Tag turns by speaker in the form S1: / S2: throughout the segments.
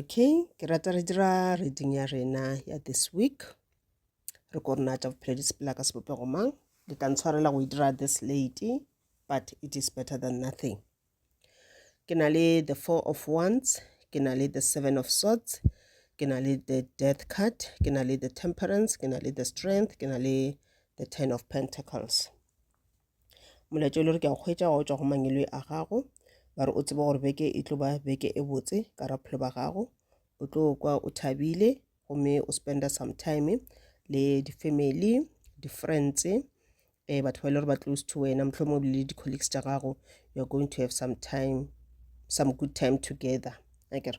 S1: okay ke rata re dira reading ya rena ya this week re ko rena tša bophelo di sepela ka sebopego mang le tla ntshwarela go e dira this lady but it is better than nothing ke na le the four of wands ke na le the seven of swords ke na le the death card ke na le the temperance ke na le the strength ke na le the ten of pentacles molaetša o le gore ke a kgwetša wa o tšwa go mangwelwe a gago ba re o tseba gore beke e tlo ba beke e botse ka raphelo ba gago o tlo kwa o thabile gomme o spenda some time le di-family di-friends um batho ba e le gore ba close to wena mohlomong o le di-colleagues tša gago you're going to have some time some good time together akere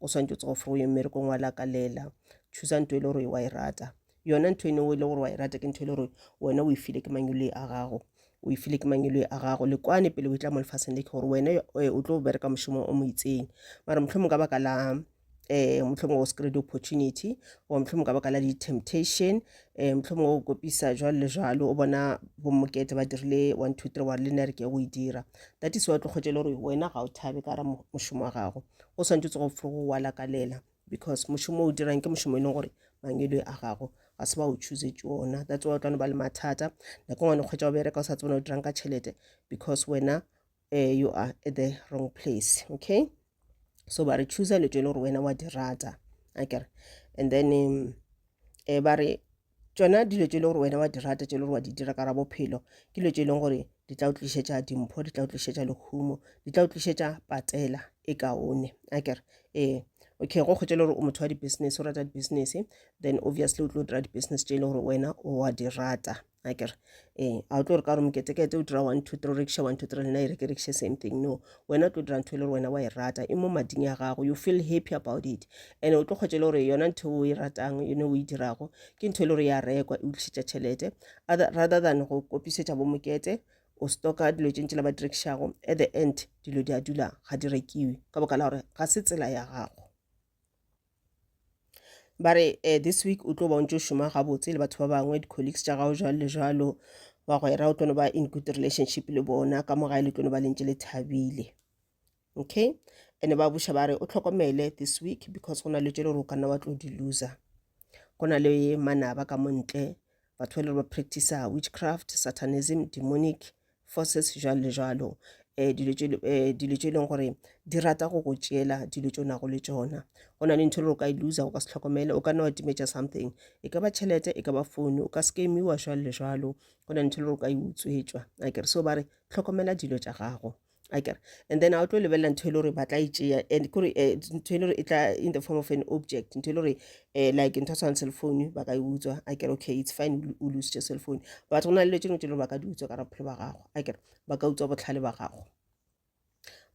S1: o swantse o tsogo fro ye mmerekong wa lakalela choosa ntho e le gore wa e rata yona ntho ene o e le gore wa e rata ke ntho e le gore wena o e file ke mangelo a gago o e file ke mangelo a gago le kwane pele o e tla mo lefaseng le ke gore wena eh, o tlo bereka mošomo o mo itseng mara motlho mongwe ka baka la eh mohlomong o screen opportunity or mohlomong ka baka la di-temptation eh mohlomong o kopisa jwalo le jwalo o bona bomokete ba dirile one two three wa re le nna re ke go e dira that is why o tlo kgotse le gore wena ga o thabe ka ra mošomo wa gago go swantse tsogo fo go wa lakalela because mošomo o dirang ke mošomo e leng gore mangelo a gago ga se ba o choosetse ona that's why o tla no ba le mathata nako ngwane kgwetsa o bereka o sa tsebana o dirang ka tšhelete because wena uh, you are at the wrong place okay so ba re choosa leto e le gore wena wa di rata akere and then um, eh, ba re tšona dilo tše e leng gore wena wa di rata tše e le gore wa di dira ka ra bophelo ke dilo tše e leng gore di tla o tlišetša dimpho di tla o tlišetša lehumo di tla o tlišetša patela e kaone a kere ee okay go kgotse e le gore o motho wa di-business o rata di-business then obviously o tlo dira di-business tše e le gore wena o wa di rata a kere ee a o tlo re ka gore moketekete o dira one two three riksha one two three lena e re ke riksha same thing no wena o tlo dira ntho e le gore wena wa e rata e mo mading ya gago you feel happy about it and o tlo kgwetse le gore yona ntho o e ratang yone o e dirago ke ntho e le gore ya rekwa e o tlišetša tšhelete rather than go kopisetša bomokete o stoka dilo tše ntši la ba direkišago at the end dilo di a dula ga di rekiwe ka boka la gore ga se tsela ya gago ba re eh, this week o tlo ba o ntse o šoma gabotse le batho ba bangwe di-colleagues tša gago jalo le jalo bagwera o tlo no ba in good relationship le bona ka mo gae le tlo no ba lentse le thabile okay ene ba buša ba re o tlhokomele this week because go na le tše le gore o ka nna wa tlo di loser go na le manaba ka montle batho ba le ba practicer witchcraft satanism demonic forces jwalo le jwalo um dilo tše eh, e leng gore di rata go go tšeela dilo tše o nago le tšona go na le ntho e le gore o ka e loser o ka se tlhokomele o ka nna wa timetša something e ka ba tšhelete e ka ba founu o ka skemiwa jwalo le jwalo go na le ntho e le gore o ka e utswetswa a kere so ba re tlhokomela dilo tša gago akere and then a o tlo lebelela ntho e le gore ba tla e tšea and kore eh, ntho e le gore e tla in the form of an object ntho e le gore eh, like ntho tshwana cell phone ba ka e utswa a kere okay it's fine o lositše cell phone but go na le dilo tšeno tse le ba ka di utswa ka bophelo ba gago a kere ba ka utswa botlhale ba gago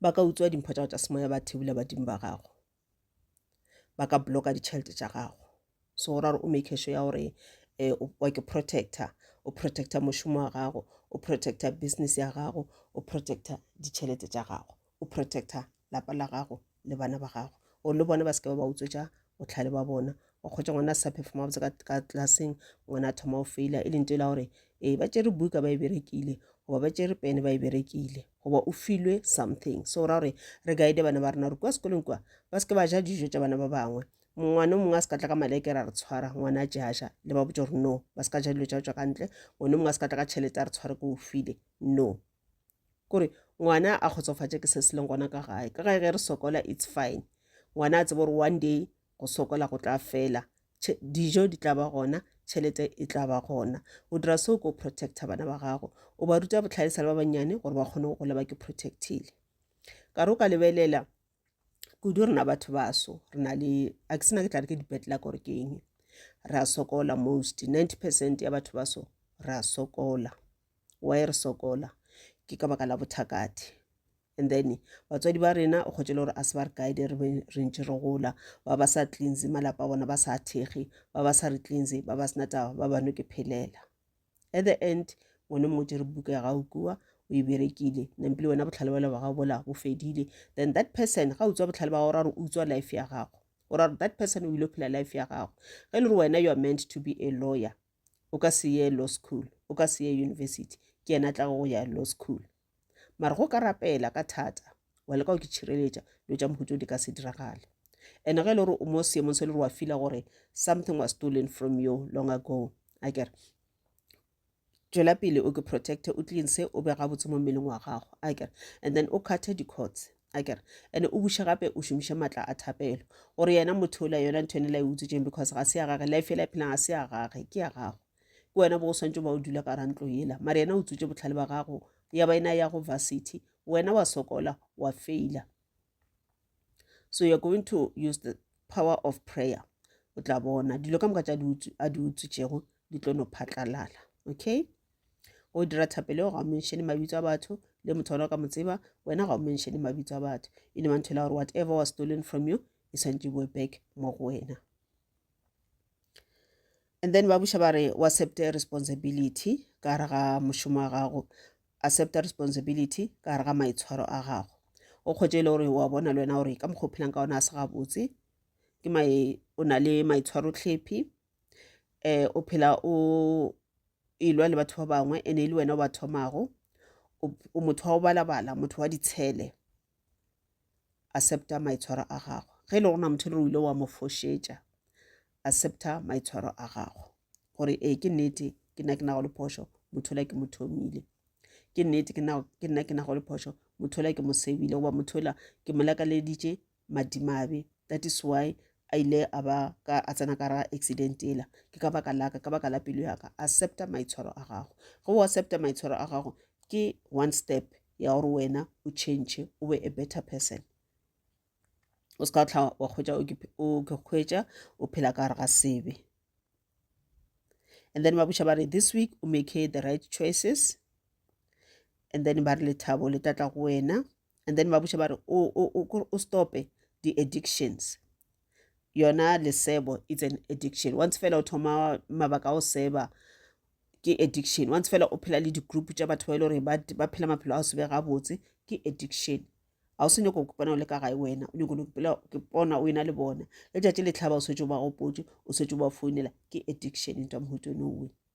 S1: ba ka utswa dimpho tsa go tsa semoya ba thebula badimo ba gago ba ka blocka ditšhelete tša gago so go ra gore o make sure ya gore um wa ke protector o protector mošomo wa gago o protector business ya gago o protector ditšhelete tša gago o protector lapa la gago le bana ba gago o le bone ba se ke ba ba utswetša botlhale ba bona wa kgwetsa ngwana a sa phefoma botse ka tlaseng ngwana a thoma o feila e leng to la gore ee ba tšere buka ba e berekile goba ba tšere pene ba e berekile goba o filwe something so ra gore re guide bana ba rena gore kwa sekolong kwa ba se ke ba ja dijo tša bana ba bangwe ngwana o mongwe a se ka tla ka maleke ra re tshwara ngwana a jaja le ba botsa gore no ba se ka ja dilo tša tswa ka ntle ngwana o mongwe a se ka tla ka tšhelete a re tshware ko o file no kore ngwana a kgotsofatše ke se se leng gona ka gae ka gae ge re sokola it's fine ngwana a tsebe gore one day go sokola go tla fela dijo di tla ba gona tšhelete e tla ba gona o dira seo ko protecta bana ba gago o ba ruta botlhale sa le ba bannyane gore ba kgone go gola ba ke protectile ka re o ka lebelela kudu rena batho baso re na le a ke sena ke tla re ke dipetlela gore ke eng re a sokola most 90 percent ya batho baso re a sokola why re sokola ke ka baka la bothakati and then batswadi ba rena o kgotse le gore a se ba re guide re be re ntse re gola ba ba sa cleanse malapa a bona ba sa thekge ba ba sa re cleanse ba ba sena taba ba bano ke phelela at the end ngwane motse re buka ya gago kua o e berekile nempele wena botlhale bale ba gago bola bo fedile then that person ga utswa botlhale ba gago ra re utswa life ya gago o ra that person o ile phela life ya gago ge e le gore wena you are meant to be a lawyer o ka se ye law school o ka se ye university ke yena tla go ya law school mara go ka rapela ka thata wa leka go ke tšhireletša dilo tša mohuto di ka se diragale and ge e le gore o mo seemong se e le gore wa fila gore something was stolen from you long ago a kere tšwela pele o ke protecte o tleng se o bega botse mo mmeleng wa gago a kere and then o kgathe di-courts a kere ande o buše gape o šomiše maatla a thapelo gore yena motho ola yona ntho ene la e utswetseng because ga se ya gage life ela e phelang ga se ya gage ke ya gago ke wena bo o swantse ba o dula ka rantlo ela mare yena o tswetse botlhale ba gago ya ba ena ya go varsity wena wa sokola wa faila so you're going to use the power of prayer o tla bona dilo ka moka tša a di utswetšego di tlo no phatlalala okay go dira thapelo ga o menšene mabitso a batho le motho ona o ka mo tseba wena ga o menšene mabitso a batho e ne mantho e la gore whatever was stolen from you e swantse boe back mo go wena and then ba buša ba re o accept responsibility ka gare ga mošomo wa gago accept responsibility ka gare ga maitshwaro a gago o kgwetse e le gore wa bona le wena gore ka mokgwa o phelang ka ona a se gabotse ke o na le maitshwaro tlhephi um o phela o elwa le batho ba bangwe ene e le wena o ba thomago o motho wa go balabala motho wa ditshele accepta maitshwaro a gago ge e le gona motho le o ile wa mo fošetša accepta maitshwaro a gago gore ee ke nnete ke nna ke nago le phošo motho la ke mo thomile ke nnete ke nna ke nago le phošo motho la ke mo sebile goba motho la ke mo lakaleditše madimabe that is why a ile a ba ka a tsena ka ra accident ela ke ka baka laka ka baka la pelo yaka accepta maitshwaro a gago ge o accepta maitshwaro a gago ke one step ya gore wena o change o be a better person o se ka tla wa kgwetsa o ke kgwetsa o phela ka gare ga sebe and then ba buša ba re this week o make the right choices and then ba re lethabo le tlatla go wena and then ba botša ba re o stope di-addictions yona lesebo it's an addiction once fela o thoma mabaka a o seba ke addiction once fela o phela le di-group tša batho ba e le gore ba phela maphelo a o sebe gabotse ke addiction ga o se nyoko kopana o le ka gae wena o nyoko ke pona o ena le bona letšatši le tlhaba o swetse o ba gopotse o swetse o ba founela ke addiction into mohuto no way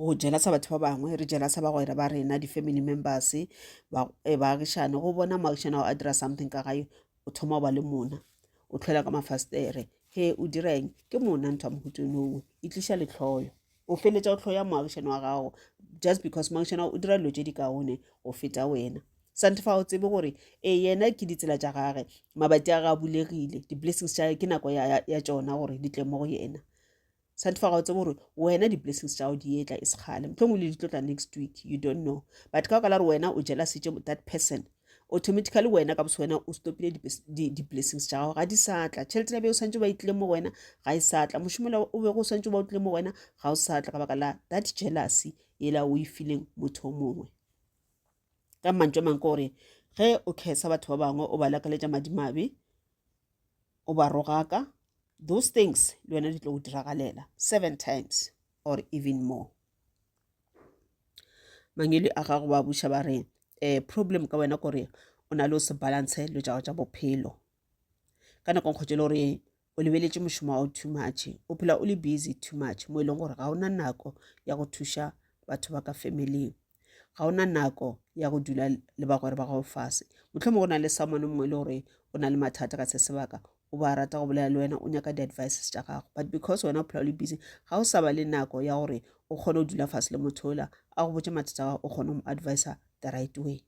S1: go jelasa batho ba bangwe re jelasa bagwera ba rena di-family members eh, baagišane go bona moagišane ao a dira something ka gae o thoma go ba le mona o tlhola ka mafastere he o direng ke mona ntho ya mohutonowe e tliša letlhoyo o feletša o tlhoya moagišane wa gago just because moagišane o dira dilo tše di kaone go feta wena sante fa o tsebe gore e yena ke ditsela tša gage mabati a ga bulegile di-blessings tša ke nako ya tšona gore di tle mo go yena satify ga o tsebo gore wena di-blessings tša go di etla e sekgale motlhong o le di tlotla next week you don't know but ka baka la gore wena o jela setse that person automatically wena ka bose wena o stopile di-blessings tša gago ga di sa tla tšhelete la be o swantse ba itlile mo go wena ga e sa tla mošomola o bego o swantse ba o tlile mo go wena ga o sa tla ka baka la that jealousy ela o e fileng motho o mongwe ka mantso a mang ke gore ge o kgesa batho ba bangwe o ba lakaletša madimabe o ba rogaka, those things le wena di tlo go diragalela seven times or even more. Mangwele a gago ba buša ba re um problem ka wena kore o na le o se balance dilo tša gago tša bophelo ka nako nkgotse e le gore o lebeletše mošomo wa gago too much o phela o le busy too much mo e leng gore ga o na nako ya go thuša batho ba ka familing ga o na nako ya go dula le bagwera ba gago fase motlhomo go na le someone mongwe e le gore o na le mathata ka se sebaka o ba rata go bolela le wena o nyaka di-advices tša gago but because wena o phela o le busy ga o sa ba le nako ya gore o kgone go dula fase le motho ola a go botse mathata gago o kgone go mo advisa the right way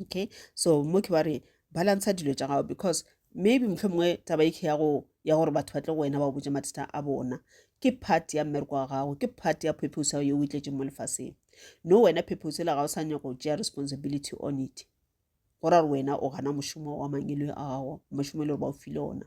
S1: okay so mo ke ba re balansa dilo tša gago because maybe motlho mongwe taba e ya go ya gore batho ba tle go wena ba botse mathata a bona ke part ya mmereko wa gago ke part ya purpose ya yo o itletseng mo lefaseng no wena purpose la gago sa nyaka go tšea responsibility on it go ra gore wena o gana mošomo wa mangelo a gago mošomo e le gore ba o file ona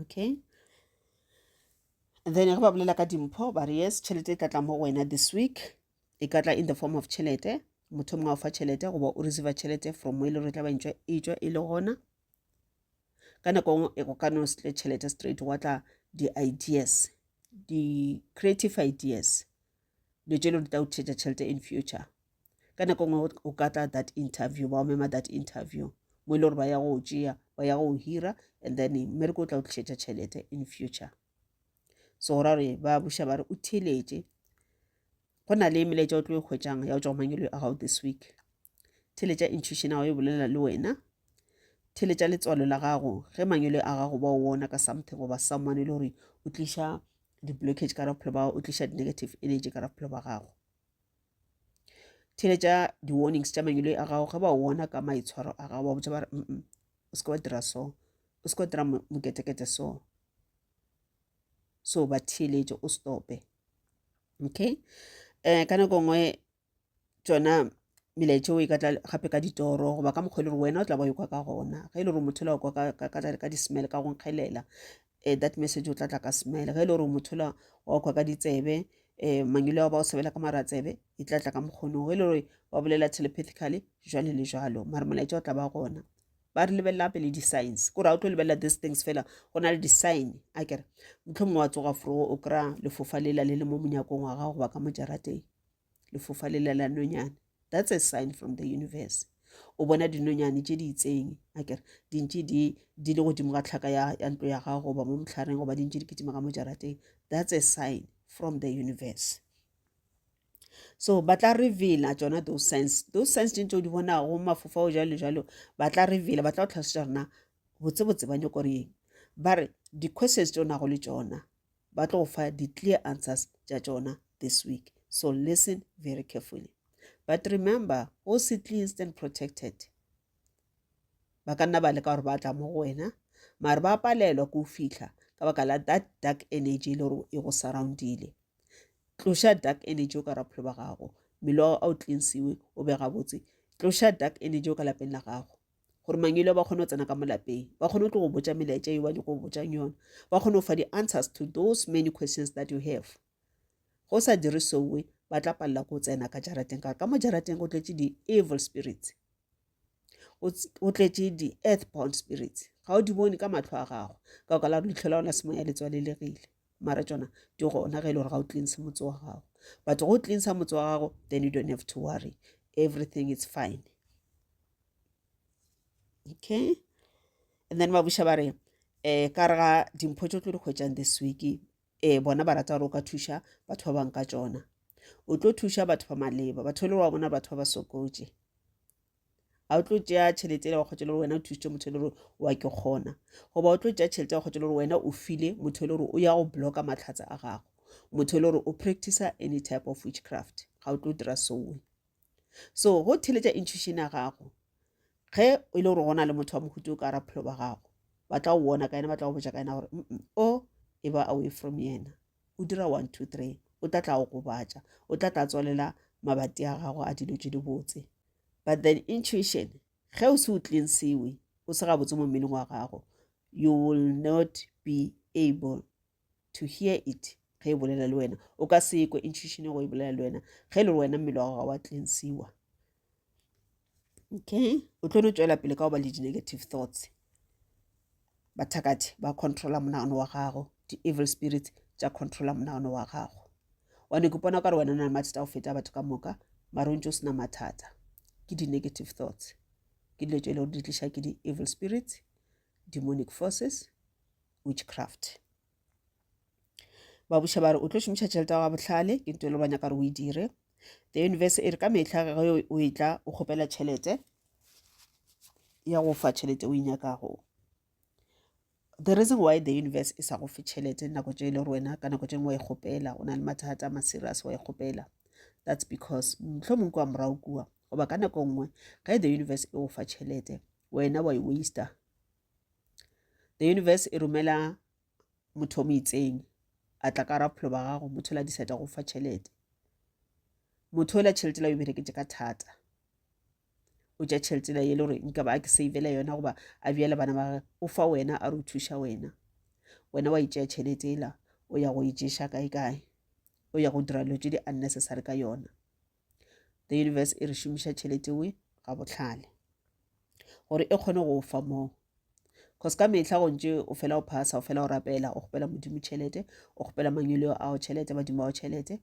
S1: okay then ge ba bolela ka dimpho ba re yes tšhelete e tlatla mo go wena this week e ka tla in the form of tšhelete motho mongwe a o fa tšhelete goba o receive tšhelete from mo e le gore tla ba ntšwa e tswa e le gona ka nako nngwe e go ka no se tle tšhelete straight wa tla di-ideas di-creative ideas dilo tše lo di tla o theetša tšhelete in future ka nako ngwe o ka tla that interview ba o mema that interview mo e le gore ba ya go o tšea ba ya go o hira and then mmereko o tla o tlišetša tšhelete in future so go ra gore ba buša ba re o theletše go na le melaetša o tlo e kgwetšang ya go tšwa go mangelo a gago this week theletša intuition gago e bolela le wena theletša letswalo la gago ge mangelo a gago ba o wona ka something goba someone e le gore o tliša di-blockage ka bophelo ba gago o tliša di-negative energy ka bophelo ba gago theletša di-warnings tša mangwele a gago ge ba wona ka maitshwaro a gago ba botsa ba re mm o se ka wa dira so o se ka wa dira moketekete so so ba theeletše o stope okay um ka nako nngwe tšona melaetšeo e ka tla gape ka ditoro goba ka mokgwa e le gore wena o tla ba yo kwa ka gona ge e le gore motho la kwa ka di-smell ka go nkgelela um eh, that message o tla tla ka smell ge e le gore motho la wa kwa ka ditsebe um mangile wa ba o sebela ka maratsebe e tla tla ka mokgonong ge e le gore wa bolela telepathically jwale le jwalo mare molaetša o tla ba gona ba re lebelela pele di-signs kore ga o tlo lebelela these things fela go na le di-sign a kere motlho mongwe wa tsoga fro o kry-a lefofa lela le le mo monyakong wa gago goba ka mojarateng lefofa le lela nonyane that's a sign from the universe o bona dinonyane tše di itseng a kere dintše di di le godimo ga tlhaka ya, ya ntlo ya gago goba mo motlhareng goba dintše di kitima ka mo jarateng that's a sign from the universe so ba tla reveala tsona those signs those signs tše ntse o di bonago mafofa o jalo jalo ba tla reveala ba tla go tlhalosetša rona botsebotse ba nyoko reng ba re di-questions tse o nago le tsona ba tlo go fa di-clear answers tša tšona this week so listen very carefully but remember o se cleansed and protected ba ka nna ba leka gore ba tla mo go wena mare ba palelwa ke o fitlha ka baka la that dark energy e le gore e go surroundile tloša dark energy o ka ra bophelo ba gago mmele wa gago a o cleansiwe o be gabotse tloša dark energy o ka lapeng la gago gore mangelo ba kgone go tsena ka mo lapeng ba kgone go tlo go botsa melaetša yo ba nyako go botsang yona ba kgone go fa di-answers to those many questions that you have go sa dire sowe ba tla palela ko tsena ka jarateng ka ka mo jarateng go tletse di-evil spirits o tletse di-earth bound spirits ga o di bone ka matlho a gago ka o ka la gore letlho la ona semo ya letswalelegile mara tsona di gona ge e le gore ga o tleng se motse wa gago but go tleng sa motse wa gago then you don't have to worry everything is fine okay and then ba buša ba re um ka re ga dimpho tse o tlo di kgwetšang this week um bona ba rata gore o ka thuša batho ba bangwe ka tsona o tlo thuša batho ba maleba batho e le wa bona batho ba ba sokotše ga o tlo tšea tšhelete e le wa kgotse le gore wena o thusitše motho e le gore wa ke kgona goba o tlo tšea tšhelete ya kgotse le gore wena o file motho e le gore o ya go blocka matlhatsa a gago motho e le gore o practicer any type of witchcraft ga o tlo dira soe so go theletša intuition ya gago ge e le gore gona le motho wa mohuto o ka raphelo ba gago ba tla o bona ka yena ba tla go botša ka yena gore o e ba away from yena o dira one two three o tla tla go gobatša o tla tla tswalela mabati a gago a dilo tse di botse but then intuition ge o se o cleansiwe o se gabotse mo mmeleng wa gago you will not be able to hear it ge e bolela le wena o ka se ekwe intuition go e bolela le wena ge e le wena mmele wa gago ga wa cleansiwa okay o tlo no tswela pele ka go ba le di-negative thoughts bathakati ba controla monagano wa gago di-evil spirits tša controla monagano wa gago one ke bona ka re wena o na le mathata go feta batho ka moka mare o ntse o sena mathata ke di-negative thoughts ke dilo tse e le gore di tliša ke di-evil spirits demonic forces witchcraft ba buša ba re o tlo šomiša tšhelete ya bohlale ke nto e le ba nyaka re o e dire the universe e re ka mehla ge o e tla o kgopela tšhelete ya go fa tšhelete o e nyakago the reason why the universe e sa go fe tšhelete nako tše e le wena ka nako tše ngwe wa e kgopela o na le mathata ma serious wa e kgopela that's because motlho mongwe kwa morago kua goba ka nako nngwe ge the universe e go fa tšhelete wena wa e waster the universe e romela motho o mo itseng a tla ka raphelo ba gago motho la diseta go fa tšhelete motho la tšhelete la o bereketse ka thata o tša tšhelete la ye le gore nka ba a ke savela yona goba a bjale bana ba o fa wena a re o thuša wena wena wa itšea tšhelete ela o ya go e kae kae o ya go dira dilo tse di unnecessary ka yona the universe e re šomiša tšhelete we ga bohlale gore e kgone go fa moo cause ka mehla go ntše o fela o phasa o fela o rapela o kgopela modimo tšhelete o kgopela mangweleo ao tšhelete badimo ao tšhelete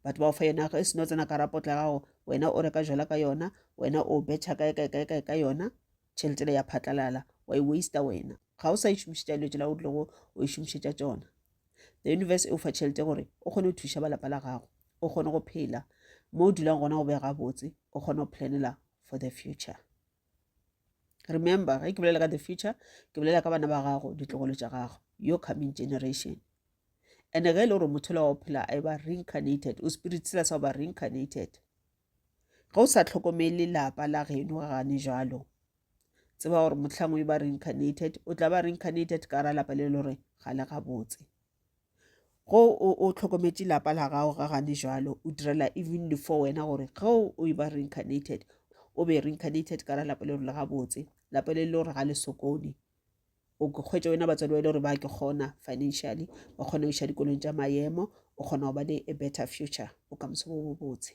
S1: batho ba o fa yona e seno tsena ka rapotla gago wena o reka jola ka yona wena o betšha kae kae kae kae ka yona tšhelete le ya phatlalala wa e waste wena ga o sa e šomišetša dilo tsela o tlilego o e šomišetša tsona the universe e o fa tšhelete gore o kgone go thuša ba lapa la gago o kgone go phela mo o dulang gona go be gabotse o kgone go planela for the future remember ge ke bolela ka the future ke bolela ka bana ba gago ditlogolo tša gago your coming generation and ge e le gore motho le wa o phela a e ba reincarnated o spirit sela sa go ba reincarnated ge o sa tlhokomele lapa la geno ga gane jalo tseba gore motlhang o ba reincarnated o tla ba reincarnated ka ra lapa le le gore ga le gabotse go o tlhokometše lapa la gago ga gane jalo o direla even le for wena gore ge o e ba reincarnated o be reincarnated ka ra lapa le gore le gabotse lapa le le gore ga le sokone o kgwetsa wena batswadi ba e le gore ba ke kgona financially ba kgona go iša dikolong tša maemo o kgona go ba le a better future bokamoso bo bobotse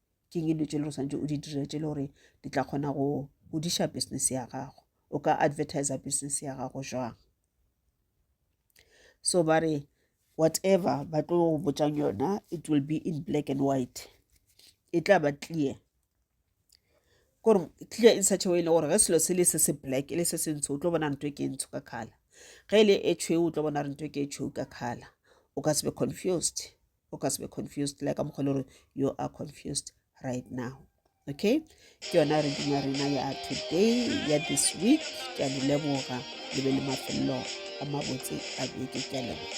S1: ke eng dilo tše le go swantse o di dire tše le gore di tla kgona go godiša business ya gago o ka advertiser business ya gago jwang so ba re whatever ba tlo go botsang yona it will be in black and white e tla ba clear kore clear in such a way le gore ge selo se le se se black e le se se ntsho o tlo bona nto e ke ntsho ka kgala ge e le e tšhweu o tlo bona re nto e ke e tšhweu ka kgala o ka se be confused o ka se be confused le ka mokgwa le gore you are confused right now okay ke yona re duma rena ya today ya this week ke a le leboga le be le mafelelo a mabotse a beke ke a leboga